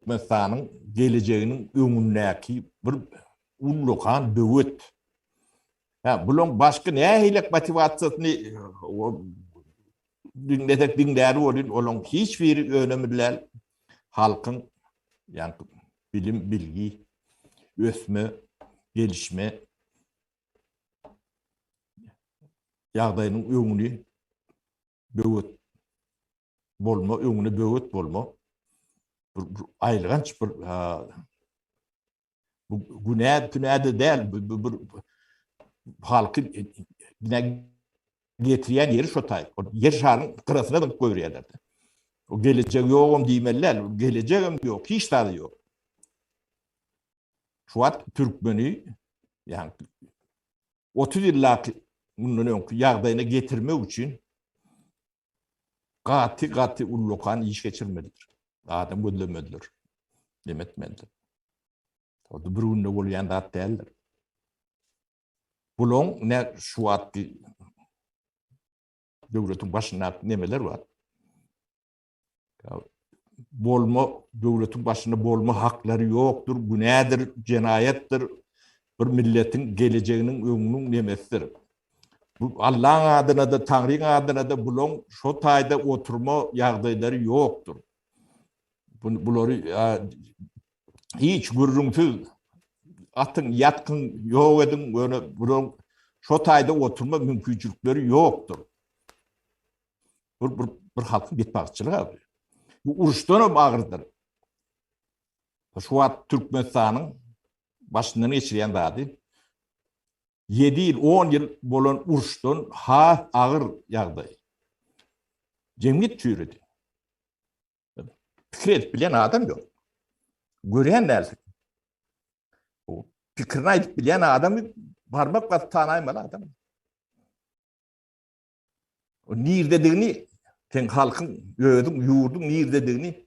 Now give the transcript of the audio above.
Türkmenistanyň gelejeginiň öňündäki bir ullakan böwet. Hä, bulaň başky nähilek motiwasiýasyny diňlesek diňläli bolýun, olaň hiç biri önemli däl. Halkyň, ýagny bilim, bilgi, ösme, gelişme ýagdaýynyň öňüni böwet bolma, öňüne böwet bolma. Bir aýylganç bir bu günä tünäde däl, bu bir halky bine getirýän ýeri şo taý. O ýer şaryň gyrasyna dygyp goýberýärler. O gelejek ýogam diýmeliler, gelejek hem ýok, hiç zady ýok. Şu wagt türkmeni, ýa 30 ýyllaky mundan öňki ýagdaýyna getirmek üçin gaty gaty ullakan iş geçirmelidir. Adam gözlemelidir. Dem etmelidir. Orada bir günde bolýan zat däldir. Bulaň ne şu wagtky döwletiň başynda nemeler bar? bolma döwletiň başynda bolma haklary ýokdur, günädir, jenaýatdyr. Bir milletiň gelejeginiň öňüniň nemesidir. Bu Allaň adyna-da, Taňryň adyna-da bulaň şo taýda oturma ýagdaýlary ýokdur. Bulary hiç gürrüňsiz atyň, ýatgyň, ýok ediň, ýöne bulaň şo taýda oturma mümkinçilikleri ýokdur. Bir, bir, bir halkyň betbagtçylygy abi. Bu uruşdan hem agyrdyr. Şu wagt Türkmenistanyň başyndan geçirýän zady 7 ýyl, 10 ýyl bolan uruşdan has agyr ýagdaý. Jemgyýet çüýredi. Pikir edip bilen adam ýok. Görýän dälsin. Pikirini aýdyp bilen adamy barmak basyp tanaýmaly adam. Nirdedigini sen halkyň, özüň, ýurduň nirdedigini